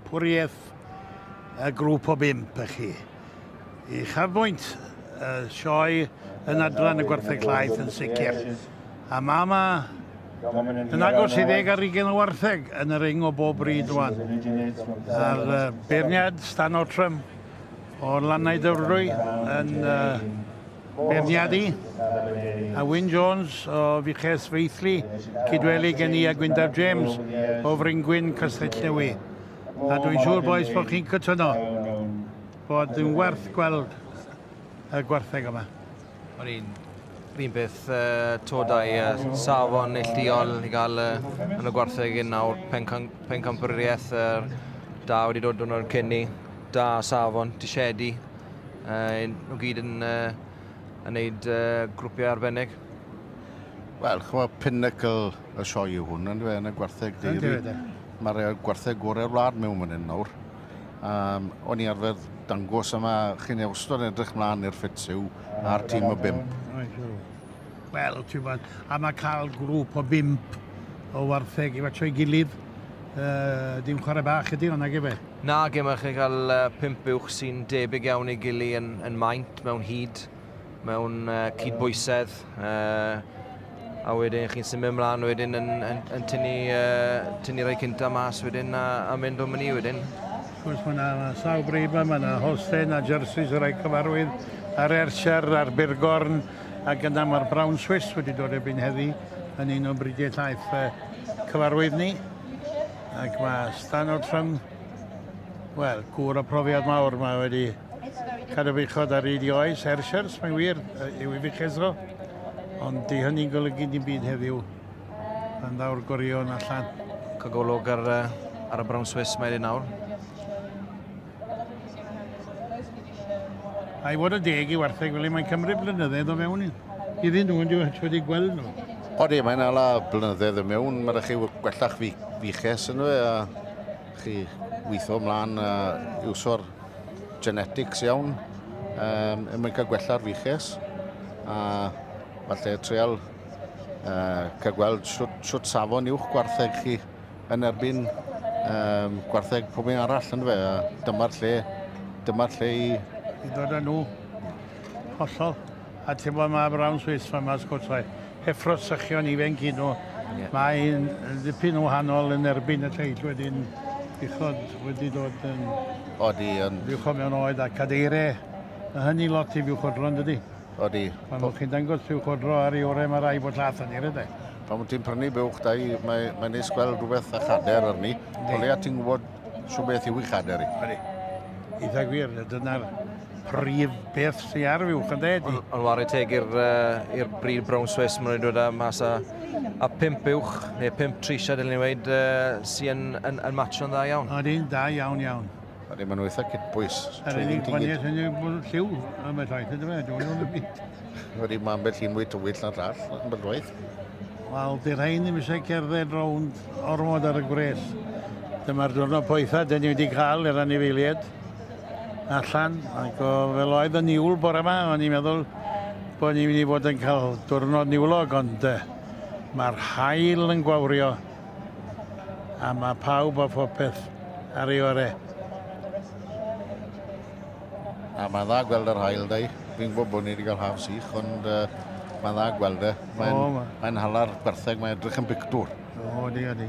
Pwriaeth y grŵp o bimp y chi i chafbwynt y sioe yn adran y gwartheg llaeth yn sicr. A mae yma yn agos i ddeg ar ugen o wartheg yn yr ing o bob bryd rwan. A'r uh, beirniad Stan Otrym o'r Lannau Dyfrwy yn uh, Beirniadu, a Wyn Jones o Fuches Feithli, cydweli gen i a Gwyndaf James o Fryngwyn, Castellnewy. A dwi'n siŵr, bois, bod chi'n cytuno bod yn werth gweld y gwartheg yma. Yr un, yr un beth, uh, todau uh, safon neillduol i gael uh, yn y gwartheg yn nawr pencampwriaeth uh, da wedi dod yn o'r cynni, da safon, disedi, Uh, nhw gyd yn, uh, yn neud uh, grwpiau arbennig. Wel, chwa pinnacle y sioe yw hwn, ynddo fe, yn y gwartheg deiri. Mae'r gwartheg gorau'r wlad mewn fan hyn nawr. Um, o'n i arfer dangos yma chi'n eustod edrych mlaen i'r ffit yw a'r tîm o bimp. Wel, ti'n bod, a mae cael grŵp o bimp o wartheg i fatsio'i gilydd, uh, dim chwarae bach ydy hwnna, gefe? Na, ge mae chi cael uh, pimp uwch sy'n debyg iawn ei gilydd yn, yn maint, mewn hyd, mewn uh, cydbwysedd. Uh, a wedyn chi'n symud ymlaen wedyn yn, yn, yn tynnu, uh, tynnu rhai cynta mas wedyn a, a mynd o'n mynd i wedyn. Wrth gwrs mae 'na sawl bryd 'ma, mae 'na Holstein a Jerseys y rhai cyfarwydd, a'r Ayrshire a'r Burgorn, ac yna mae'r Brown Swiss wedi dod erbyn heddi yn un o'n bridiau llaeth cyfarwydd ni. Ac mae Stan O'Trun, wel, gŵr o profiad mawr, mae wedi cadw fichod ar hyd i oes, Ayrshires, mae'n wir, yw i ficheso, ond di hynny'n golygu dim byd heddiw. Yn ddaw'r gwirion allan. Cogolwg ar, ar y brown Swiss mae un nawr. I fod y deg i wartheg, fel mae'n cymryd blynyddoedd o fewn iddyn nhw, ond dwi'n wedi gweld nhw. Odi, mae'n ala blynyddoedd y mewn, mae'n rhaid chi gwella'ch fi, fiches yn fe, a chi weithio ymlaen a iwsio'r genetics iawn, um, mae'n cael gwella'r fiches, a falle treol uh, cael gweld siwt, siwt safon uwch gwartheg chi yn erbyn um, gwartheg pob un arall yn fe. Dyma'r lle, dyma'r lle i... I ddod â nhw hollol. A ti'n bod mae Brown Swiss fan mas gwrthau. Heffro sychion ifen cyn nhw. Yeah. Mae'n ddipyn o wahanol yn erbyn y lleill wedyn uchod wedi dod yn... Odi, ond... Uchod mewn oed a cadeirau. Mae hynny lot i fi uchod rhwnd ydy. Odi. Pan o'ch chi'n dangos siw codro ar ei orau, mae rai bod llath yn i'r edrych. Pan wyt ti'n prynu buwch da i, mae'n mae neis gweld rhywbeth a chader arni. O leia ti'n gwybod siw beth yw i chader i. Odi. Eitha gwir, dyna'r prif beth sy'n ar fuwch yn dweud. Ond wari teg i'r uh, bryd brown Swiss maen nhw'n dod â mas a, a pimp uwch, neu pimp trisiad, dylwn i weid, uh, sy'n yn, yn, yn matcho'n dda iawn. Oeddi'n da iawn iawn. A ddim yn weitha cydbwys. A ddim yn gwaniad hynny bod lliw am y llaeth ydy fe, dwi'n o'n byd. Wedi mae ambell un mwy tywyll na'r llall, yn bydwaith. Wel, di rhain ddim eisiau cerdded rownd ormod ar y gwres. Dyma'r diwrnod poetha, dyn ni wedi cael yr anifeiliad allan. Ac o, fel oedd y niwl bore yma, o'n i'n meddwl bod ni'n mynd i fod yn cael diwrnod niwlog, ond uh, mae'r hael yn gwawrio. A mae pawb a phopeth ar ei ore. A mae'n dda gweld yr hael, dau. Fi'n gwybod bod ni wedi cael haf sych, ond uh, mae'n dda gweld e. Mae'n oh, ma. mae hala'r gwertheg, mae'n edrych yn bictwr. O, oh, di, o, di.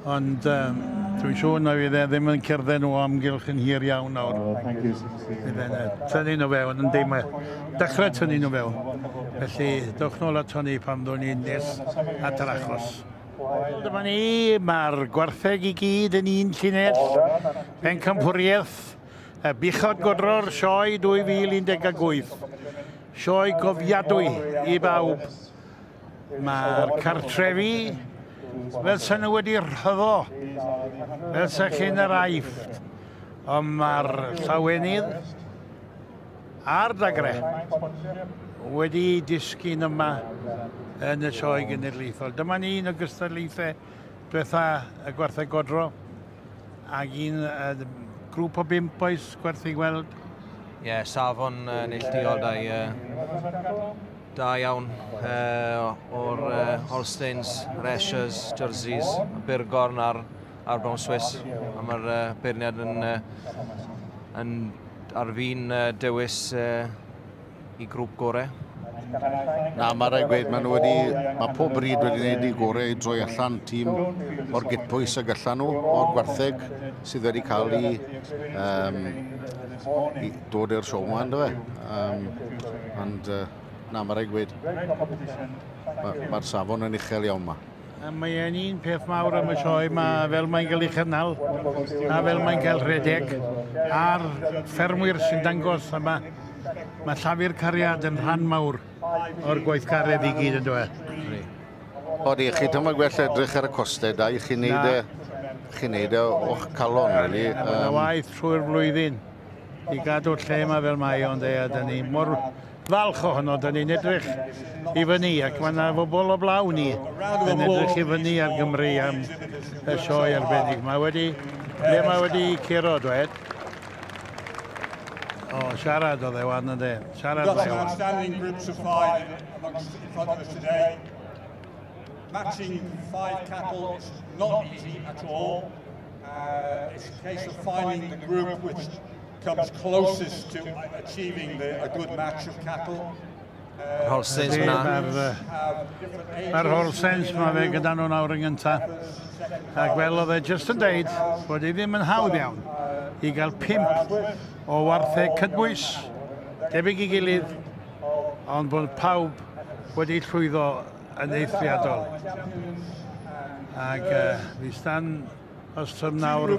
Ond um, dwi'n siŵr na fydd e ddim yn cerdded o amgylch yn hir iawn nawr. Oh, thank you. Bydd e'n tynnu nhw fewn, yndi mae dechrau tynnu nhw fewn. Felly, dewch nôl at hynny pan ddwn i'n nes at yr achos. Wel, dyma ni, mae'r gwartheg i gyd yn un llinell, pencampwriaeth, y bichod godro'r sioe 2018. Sioe gofiadwy i bawb. Mae'r cartrefi fel sy'n nhw wedi rhyddo, fel sy'n chi'n yr aifft, ond mae'r llawenydd a'r dagre wedi disgyn yma yn y sioe genedlaethol. Dyma ni yn y gystadlaethau diwetha y gwartheg godro ac un y grŵp o bimp oes gwerthu gweld. Ie, yeah, safon uh, neilltuol da i... Uh... Da iawn uh, o'r uh, Holsteins, Reshers, Jerseys, Burgorn a'r, ar Brown Swiss. A mae'r uh, beirniad yn, uh, yn ar fin uh, dewis uh, i grŵp gorau. Na, mae rhaid gweud, maen nhw wedi, mae pob bryd wedi gwneud i gorau i droi allan tîm o'r gitpwys y gallan nhw, o'r gwartheg sydd wedi cael ei, um, i, dod i'r siow ma, ynddo fe? Um, ond, uh, na, mae rhaid gwed, mae'r ma safon yn uchel iawn ma. Mae e'n un peth mawr am y sioe yma, fel mae'n cael ei chynnal, a fel mae'n cael rhedeg, a'r ffermwyr sy'n dangos yma. Mae llafur cariad yn rhan mawr o'r gweithgaredd i gyd yn dweud. Odi, chi ddim yn gwell edrych ar y costau, da i chi wneud e, chi wneud e o'ch calon, really. Mae'n um, waith trwy'r flwyddyn. i gadw'r lle yma fel mae o'n dde a dyn ni mor falch ohono, dyn ni'n edrych i fyny ac mae yna fobl o blaw ni yn edrych i fyny ar Gymru am y sioe arbennig. Mae wedi, ble mae wedi curo dwed? O, siarad o ddewan yn dde, siarad o ddewan. standing groups of five amongst in front of us today. Matching five cattle is not easy at all. Uh, it's a case of finding the group which comes closest to achieving the, a good match of cattle. Mae'r whole sense yna. Mae'r whole sense yma fe gyda nhw nawr yn gyntaf. Ac fel oedd e just yn deud, bod e ddim yn hawdd iawn i gael pimp o wartheg cydbwys debyg i gilydd, ond bod pawb wedi llwyddo yn eithriadol. Ac uh, fi stan os tym nawr...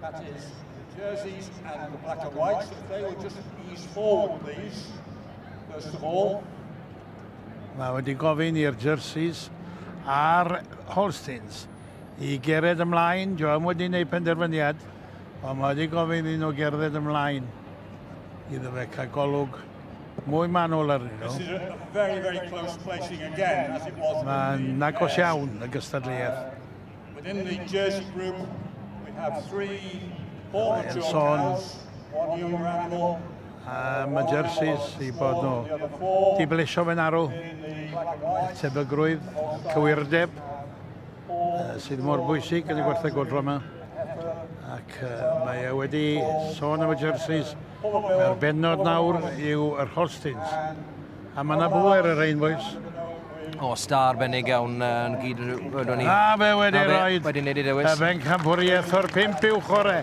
That is the jerseys and the black and white. If they will just ease forward, please, first of all. Mae wedi gofyn i'r jerseys a'r Holsteins i gered ymlaen. Dwi am wedi gwneud penderfyniad, ond mae wedi gofyn i nhw gerdded ymlaen iddo fe cael golwg Mwy manwl ar nhw. Mae'n agos iawn y gystadleuaeth. Within the Jersey group, we have three whole mature cows, one younger animal, a mae jerseys i bod nhw di blesio fe'n arw tebygrwydd, cywirdeb sydd mor bwysig yn y gwerthau godro yma ac mae e wedi sôn am y jerseys Yr bennod nawr yw yr Holsteins. A mae yna bŵer yr ein boys. O, oh, star arbennig iawn yn gyd yn rhywbeth ni. A fe wedi rhoi y bencampwriaeth o'r pimp i'w chore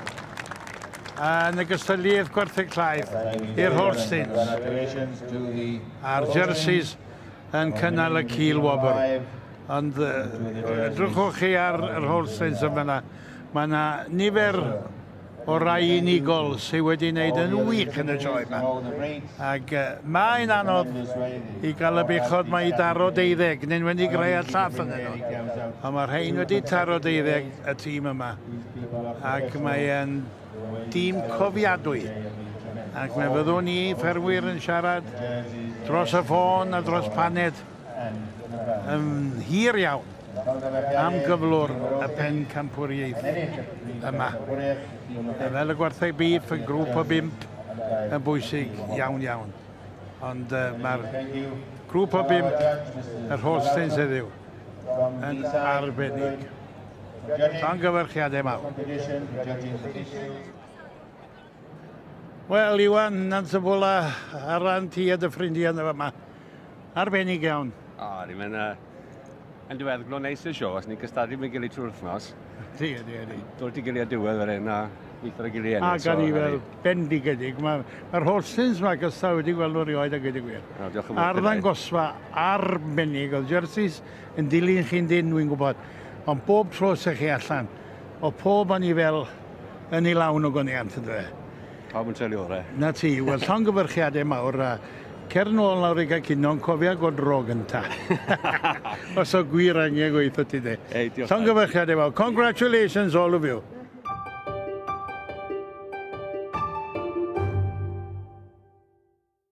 yn y gystadliaeth gwerthu claif i'r Holsteins. A'r jerseys yn cynnal y Kiel Wobr. Ond edrychwch chi ar yr Holsteins yn fyna. Mae yna nifer o rai unigol sydd wedi wneud yn wych yn y sioe yma. Ac uh, mae'n anodd i gael y bechod mae i daro deuddeg, neu'n wedi greu a llall yn yno. Ond mae rhain wedi taro deuddeg y tîm yma. Ac mae'n dîm cofiadwy. Ac mae fyddwn ni ffermwyr yn siarad dros y ffôn a dros paned yn hir iawn am gyflwr y pencampwriaeth yma. A fel y gwartheg byd, fy grŵp o bimp yn bwysig iawn iawn. Ond uh, mae'r grŵp o bimp, yr Holsteins heddiw, yn arbennig. Llongyfarchiadau mawr. Wel Iwan, Nant y Bwla, ar ran ti a dy ffrindiau yn y fama. Arbennig iawn. O, oh, ni'n mynd yn diweddglo neis y sio, os ni'n cystadlu mewn gilydd trwy'r wythnos. Di, di, di. Dod i gilydd a diwedd yr un a weithio'r i gilydd ennill. A gan i fel bendigedig, mae'r ma Rholsins mae gysta wedi gweld nhw rioed a gyda gwir. Arddang gosfa arbennig, oedd jerseys yn dilyn chi'n dyn, dwi'n gwybod. Ond bob tro sy'ch chi allan, o pob o'n i fel yn ei lawn o goniant ynddo fe. Pawb yn treulio ore. 'Na ti, wel llongyfarchiade mawr a cer nôl nawr i gael cino ond cofia gael dro gynta. Os o gwir angen gweithio ti de. Ei, diolch. Llongyfarchiade mawr. Congratulations all of you.